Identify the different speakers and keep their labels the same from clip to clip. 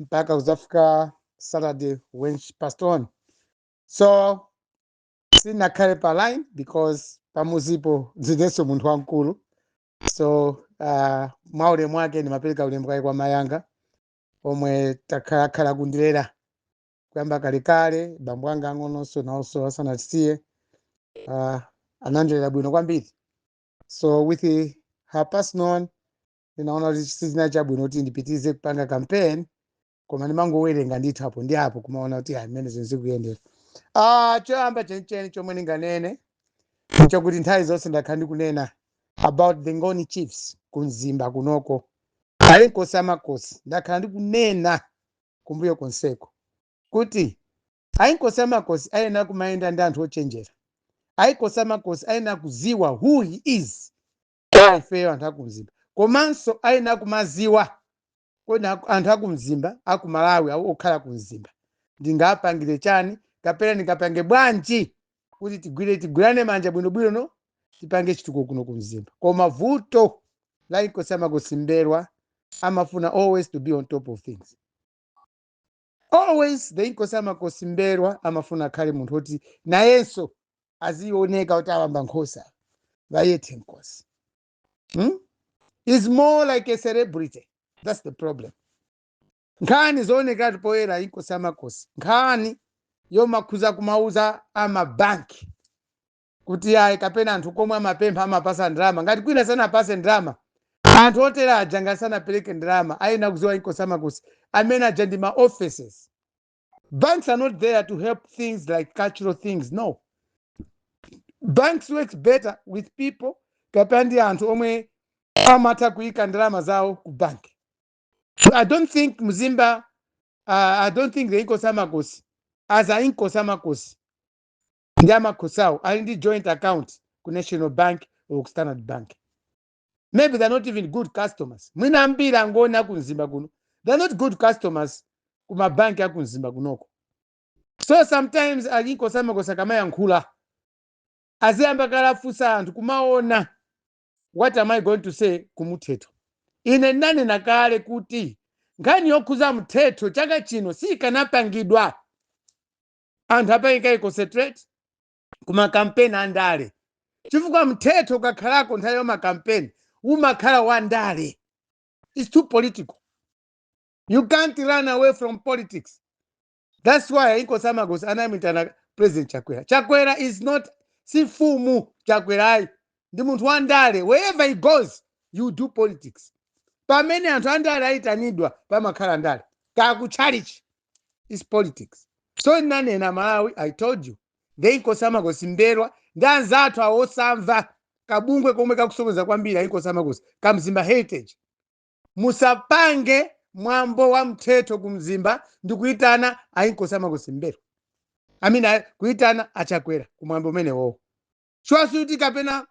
Speaker 1: mpaka kudzafika saturday when she passed on so sinakhale pa line because pamuzipo ndinenso munthu wamkulu so uh, mwa ulemu wake ndimapereka ulemu kaye kwa mayanga omwe akhalakhala kundilera kuyamba kalekale bambo anga ang'ononso nawonso asanatisiye uh, anandilera bwino kwambiri so with her passing on ndinaona kuti sizinali chabwino kuti ndipitirize kupanga campaign koma ndimangowerenga ndithu apo ndi apo kumaona kuti ayi mmene zinthu zikuyendera ah choyamba chenicheni chomwe ndinganene ndi chakuti nthawi zonse ndakhala ndikunena about the ngoni chiefs ku mzimba kunoko a inkosi amakosi ndakhala ndikunena kumbuyo konseko kuti a inkosi amakosi ayenera kumayenda ndi anthu ochenjera a inkosi amakosi ayenera kuziwa who he is kwa ifeyo anthu akumzimba komanso ayenera kumaziwa kodi aku- anthu akumzimba akumalawi awa okhala kumzimba ndingawapangire chani kapena ndingapange bwanji kuti tigwire tigwirane manja bwinobwino no tipange chitukuko kuno kumzimba koma vuto la inkosi amakosi mbelwa amafuna always to be on top of things always the inkosi amakosi mbelwa amafuna akhale munthu oti nayenso azioneka kuti awa mba nkhosi bayethe nkosi hmm? is more like a celebrity that's the problem nkhani zoonekatu poyera inkosi amakosi nkhani yomakhuza kumauza amabanki kuti ayi kapena anthu komwe amapempha amapasa ndalama ngati kwina sanawapase ndalama anthu otere aja ngati sanapereke ndalama ayena kuziwa inkosi amakosi amene aja ndi ma offices banks are not there to help things like cultural things no banks works better with people kapena ndi anthu omwe amatha kuyika ndalama zawo ku bank so i don't think mzimba uh, i don't think the inkosi amakosi as a inkosi amakosi ndi amakhosi awo ali ndi joint account ku national bank or ku standard bank maybe they're not even good customers mwina ambiri angoni akumzimba kuno they're not good customers ku mabanki akumzimba kunoko so sometimes a inkosi amakosi akamayankhula aziyamba kaye afunsa anthu kumaona what am i going to say ku mthetho ine ndinanena kale kuti nkhani yokhuza mthetho chaka chino siyikanapangidwa anthu apanga concentrate ku makampeni a ndale chifukwa mthetho ukakhalako nthawi ya makampeni umakhala wa ndale its too political you can't run away from politics that's why inkosi amakosi anamuitana president chakwera chakwera is not si mfumu chakwera ndi munthu wa ndale wherever he goes you do politics pamene anthu andale ayitanidwa pamakhala ndale kaya ku chalichi is politics so ndinanena malawi i told you nde inkosi amakosi mberwa ndi anzathu awo osamva kabungwe komwe kakusokoneza kwambiri ayinkosi amakosi ka mzimba heritage musapange mwambo wa mthetho ku mzimba ndi kuyitana ayinkosi amakosi mberwa amina kuyitana achakwera ku mwambo umenewowo chwasuti kapena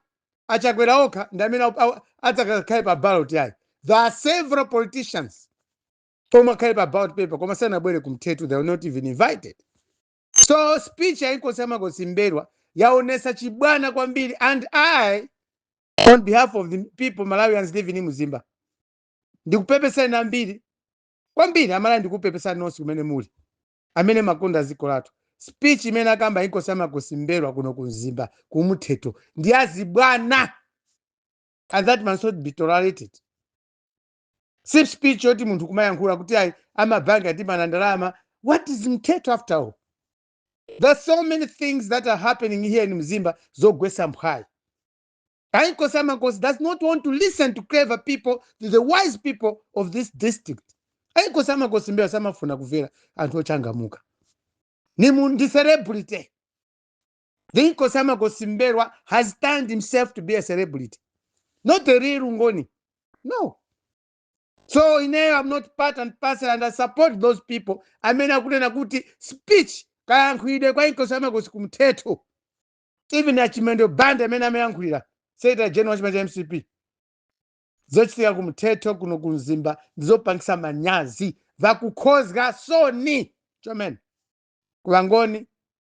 Speaker 1: achakwera okha ndi amene au- au- adzakakhale pa ballot yayi there are several politicians omwe akhale pa ballot paper koma sanabwere kumthetho they were not even invited so speech ya inkosi ya makosi mberwa yaonesa chibwana kwambiri and i on behalf of the people malawians living in mzimba ndikupepesa ine kwambiri kwambiri amalawi ndikupepesani nonse kumene muli amene makonda dziko lathu speech imene akamba inkosi ya makosi mberwa kuno ku mzimba kumthetho ndi yachibwana and that must not be tolerated si speech yoti munthu kumayankhula kuti ayi amabanki atimana ndalama what is mthetho after all there's so many things that are happening here in mzimba zogwesa mphwayi ainkosi amakosi does not want to listen to clever people to the wise people of this district ainkosi amakosi mberwa samafuna kumvera anthu ochangamuka ni mu- ndi celebrity Inkosi Amakosi Mbelwa has turned himself to be a celebrity, not a real Ngoni. No. So ineyo, I'm not part and parcel, and I support those people amene akunena kuti speech kayankhulidwe kwa Inkosi Amakosi kumthetho. Even Achimwendo Banda amene amayankhulira Secretary General wa chipani cha MCP. Zochitika kumthetu kuno kumzimba ndizopangisa manyazi vakukhozga soni chomene ku wangoni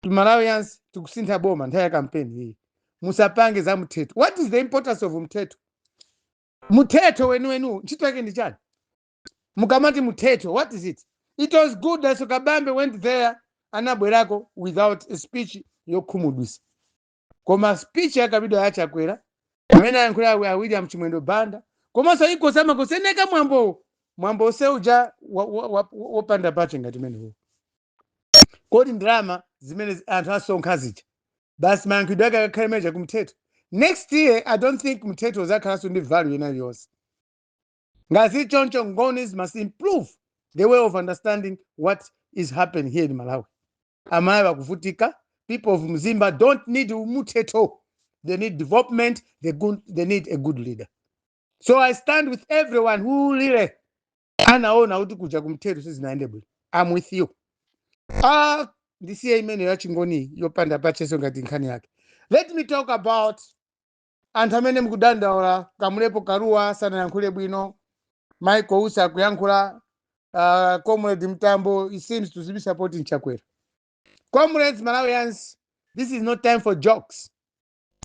Speaker 1: to malawians tikusintha boma nthawi ya kampeni iyi musapange za mthetho what is the importance of mthetho mthetho weniweniwo ntchito yake ndi chani mukamati mthetho what is it it was good that Dalitso kabambe went there anabwerako without a speech yokhumudwisa koma speech yakambidwa ya chakwera amene ayankhula a william chimwendo banda komanso inkosi amakosi eni ake mwambowo mwambo onse uja wopanda pake ngati umenewo kodi ndalama zimene zi- anthu asonkha zija basi mayankhidwe ake akakhale meja ku mthetho next year i don't think mthetho uzakhalanso ndi value ina iliyonse ngati zili choncho ngonis must improve the way of understanding what is happening here in malawi amalawi akuvutika people of mzimba don't need mthetho they need development they need a good leader so i stand with everyone who really anaona kuti kuja kumthetho sizinayende bwino am with you ah ndisiye imeneyo yachingoni yopanda pacheso ngati nkhani yake let me talk about anthu amene mukudandaula kamlepo kalua sanayankhule bwino michael usi akuyankhula uh, comrade mtambo he seems to be supporting chakwera comrades malawians this is not time for jokes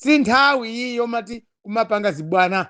Speaker 1: si nthawi iyi yomati kumapanga zibwana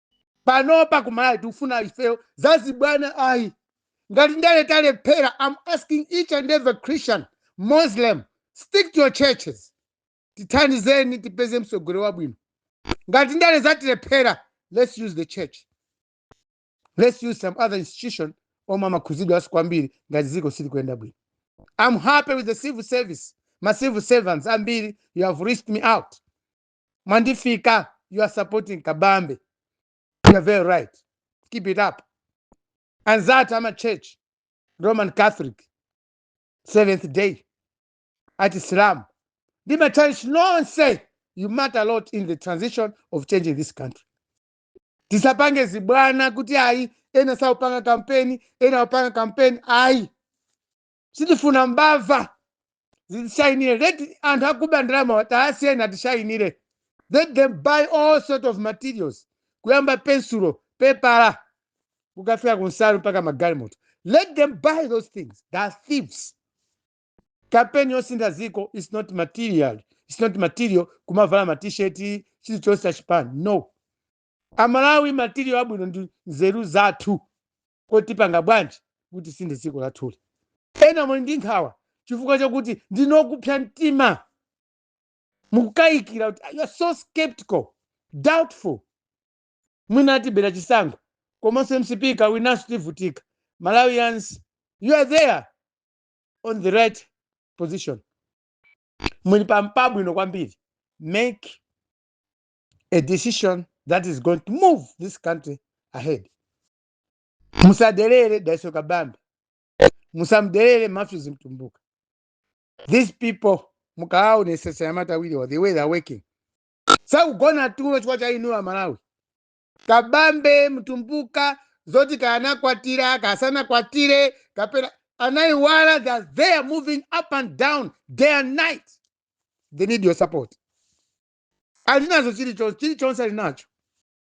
Speaker 1: panopa kumalawi sitikufuna ifeyo zazibwana ayi ngati ndale talephera am asking each and every christian muslim stick to your churches tithandizeni tipeze mtsogoleri wabwino ngati ndale zatilephera let's use the church let's use some other institution omwe amakhudzidwanso kwambiri ngati dziko silikuyenda bwino i'm happy with the civil service ma civil servants ambiri you have reached me out mwandifika you are supporting kabambe you are very right keep it up anzathu a ma church roman catholic seventh day a chisilamu ndi machurch nonse you matter a lot in the transition of changing this country tisapange zibwana kuti ayi ena saupanga kampeni ena akupanga kampeni ayi sitikufuna mbava zitishayinire let anthu akuba ndalama tawasiyeni atishayinire let them buy all sorts of materials kuyamba pensulo pepala kukafika kunsalu mpaka magalimoto let them buy those things they are thieves kampeni yosintha dziko is not material it's not material kumavala matisheti chilichonse chachipani no amalawi material abwino ndi nzeru zathu Kodi tipanga bwanji kuti tisinthe dziko lathuli? Ena muli ndi nkhawa chifukwa chakuti ndinu okupsa mtima. Mukukayikira kuti, You are so sceptical, doubtful. Mwina atibera chisankho komanso mcp ikawinanso tivutika. Malawians, you are there on the right position. Muli pabwino kwambiri. Make a decision that is going to move this country ahead. musadelere dalitso kabambe musamdelere matthews mtumbuka these people mukaaonesesa anyamata awiriwa the way they're working sakugona tulo chifukwa cha inuyo amalawi kabambe mtumbuka zoti kanakwatira kasanakwatire kapena anaiwala they are moving up and down day and night they need your support alinazo chilichonse alinacho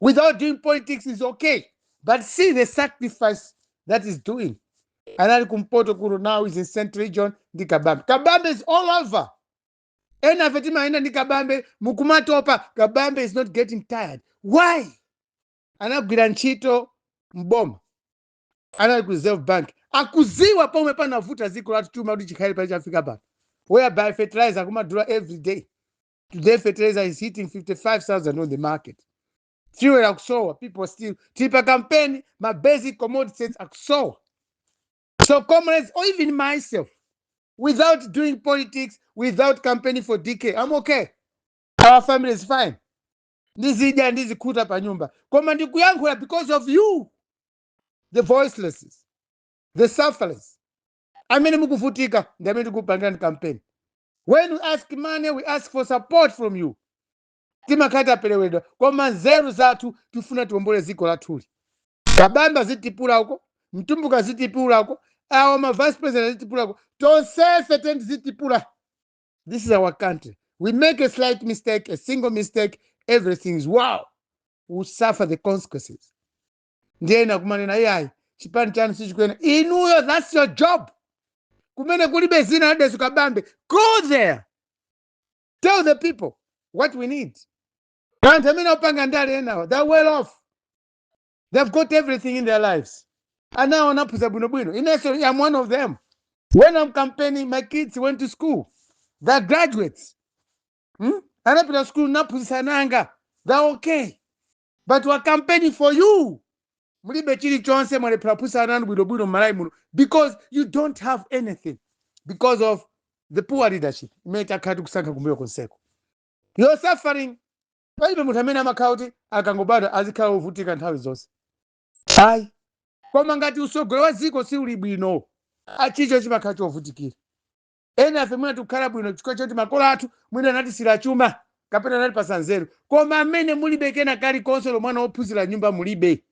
Speaker 1: without doing politics he's okay but see the sacrifice that he's doing anali kumpoto kuno now he's in central region ndi kabambe kabambe is all over ena afe timayenda ndi kabambe mukumatopa kabambe is not getting tired why anagwira ntchito mboma anali ku reserve bank akuziwa pomwe panavuta dziko lathu chuma kuti chikhale pa chafika pano whereby fertilizer akumadula every day Today, fertilizer is hitting 55,000 on the market. Fuel akusowa, people still tipa campaign, my basic commodities akusowa. So comrades, or even myself, without doing politics, without campaigning for DK, I'm okay. Our family is fine. Ndizidya ndizikhuta pa nyumba. Koma ndikuyankhula because of you, the voicelesses, the sufferers. amene mukuvutika ndi amene tikupangirani kampeni when we ask money we ask for support from you timakhala taperewedwa koma nzeru zathu tifuna tiombole dziko lathuli kabambe azitipula uko mtumbuka azitipula uko awa ma vice president azitipula uko tonsefe teni tizitipula this is our country we make a slight mistake a single mistake everything is wow we suffer the consequences ndiye ena kumanena iyayi chipani chanu sichikuyenda inuyo thats your job kumene kulibe dzina la dalitso kabambe go there tell the people what we need anthu amene akupanga ndale enawo they're well off they've got everything in their lives ana awo anaphunzira bwinobwino ine i'm one of them when i'm campaigning my kids went to school they're graduates hmm? anapita school naphunzitsa ana anga they're okay But we are campaigning for you. Mulibe chilichonse mwalephera kuphunzitsa ana anu bwinobwino m'Malawi muno because you don't have anything because of the poor leadership imene takhala tikusankha kumbuyo konseko. You're suffering. Palibe munthu amene amakhala kuti akangobadwa azikhala wovutika nthawi zonse. Ayi. Koma ngati usogolo wa dziko si uli bwino, chilichonse chimakhala chovutikira. Enafe mwina tikukhala bwino chifukwa choti makolo athu mwina anatisiyira chuma kapena anatipatsa nzeru, koma amene mulibe kena kalikonse olo mwana wophunzira m'nyumba mulibe,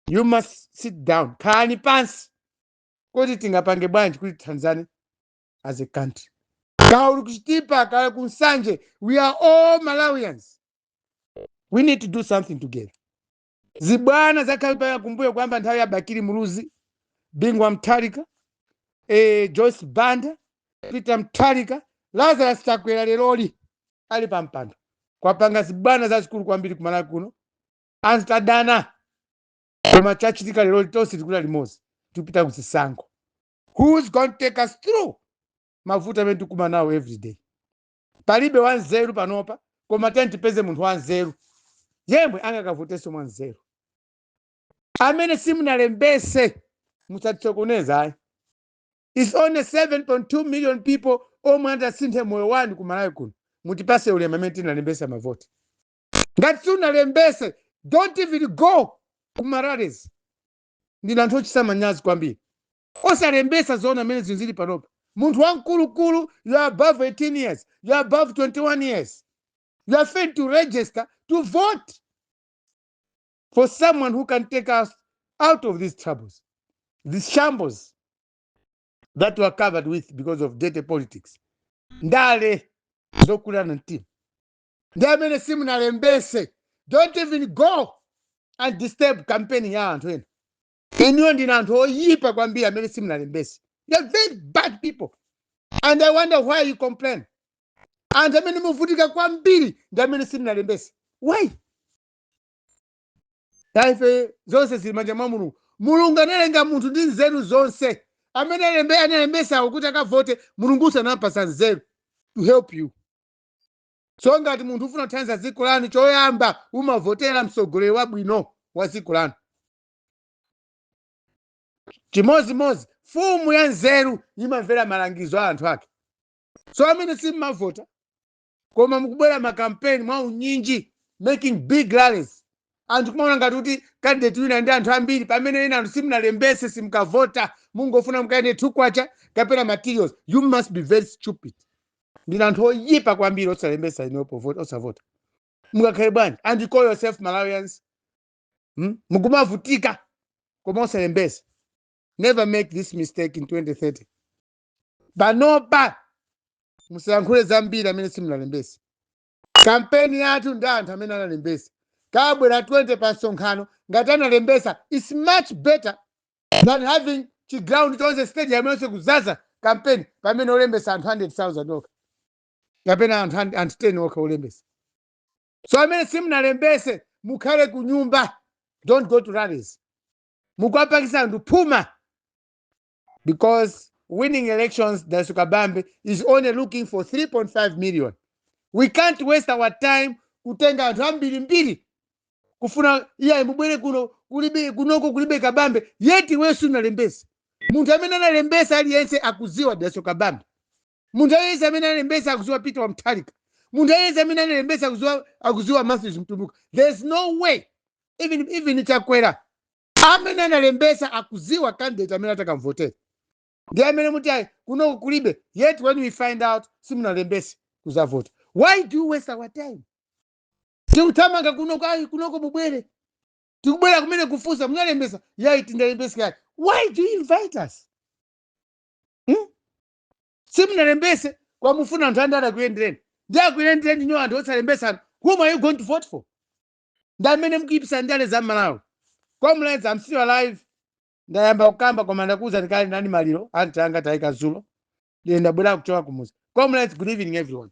Speaker 1: you must sit down, khalani pansi kuti tingapange bwanji kuti tithandizane as a country. Kaya uli ku Chitipa, kaya ku Nsanje, we are all Malawians. We need to do something together. zibwana zakhalapo kumbuyo kuyamba nthawi ya bakili muluzi bingu wa mutharika eh, joyce banda peter mutharika lazarus chakwera leroyi ali pa mpando kwapanga zibwana zazikulu kwambiri kumalawi kuno anthu adana koma chachitika leroli tonse tikulira limodzi tikupita kuzisankho who's going to take us through mavuto amene tikukumana nawo every day Palibe wanzeru panopa, koma tiyeni tipeze munthu wanzeru yemwe angakavotenso mwanzeru. Amene simunalembetse musatisokoneze ayi. It's only 7.2 million people omwe angasinthe moyo wanu ku Malawi kuno. Mutipase ulemu amene tinalembetsa mavoti. Ngati simunalembetse, don't even go ku marallies. Ndinu anthu ochititsa manyazi kwambiri. osalembetsa zoona mmene zinthu zili panopa munthu wamkulukulu you're above 18 years you're above 21 years you're failing to register to vote for someone who can take us out of these troubles these shambles that we're covered with because of dirty politics ndale zokulana mtima ndi amene simunalembese don't even go and disturb campaign ya anthu ena inuyo ndinu anthu oyipa kwambiri amene simunalembese you're very bad people and i wonder why you complain anthu amene muvutika kwambiri ndi amene simunalembese why ife zonse zili manja mwa mulungu mulungu analenga munthu ndi nzeru zonse amene analembesawo kuti akavote mulungunso anawapasa nzeru to help you so ngati munthu ufuna kuthandiza dziko lanu choyamba umavotera mtsogoleri wabwino wa dziko lanu chimodzimodzi mfumu ya nzeru imamvera malangizo a anthu ake so amene simmavota koma mukubwera makampeni mwa unyinji making big rallies anthu kumaona ngati kuti kandidate wina ali ndi anthu ambiri pamene inu anthu simunalembese simukavota mungofuna mukadye timakwacha kapena materials you must be very stupid ndinu anthu oyipa kwambiri osalembesa ndipo vote osavota mukakhale bwanji and you call yourself malawians mm? mukumavutika koma osalembesa never make this mistake in 2030 panopa musayankhule zambiri amene simunalembesa kampeni yathu ndi anthu amene analembesa akabwera 20 pa msonkhano ngati analembesa its much better than having chiground chonse stadium yonse kuzaza kampeni pamene olembesa anthu 100000 okha kapena anthu 10 okha olembesa so amene simunalembese mukhale ku nyumba don't go to rallies mukuwapasa anthu phuma because winning elections Dalitso Kabambe is only looking for 3.5 million we can't waste our time kutenga anthu ambirimbiri kufuna iyayi mubwere kuno kunoko kulibe kabambe yet iweyo sunalembese munthu amene analembesa aliyense akuziwa Dalitso Kabambe munthu aliyense amene analembesa akuziwa peter wa mutharika munthu aliyense amene analembesa akuziwa matthews mtumbuka there is no way even chakwera amene analembesa akuziwa candidate amene atakamvotera ndi amene muti ayi kunoko kulibe yet when we find out simunalembese kuzavota why do you waste our time tikuthamanga kunoko ayi kunoko mubwere tikubwera kumene kufunsa munalembesa yayi sindinalembese yayi why do you invite us simunalembese koma mufuna anthu andale akuyendereni ndi akuyendereni inuyo anthu osalembesanu whom are you going to vote for ndi amene mkuipisa ndale za malawi comrades am still alive ndayamba kukamba koma ndakuwuzani kale ndinali maliro anti anga taika zulo ndiye ndabwera kuchoka kumuzi comrades good evening everyone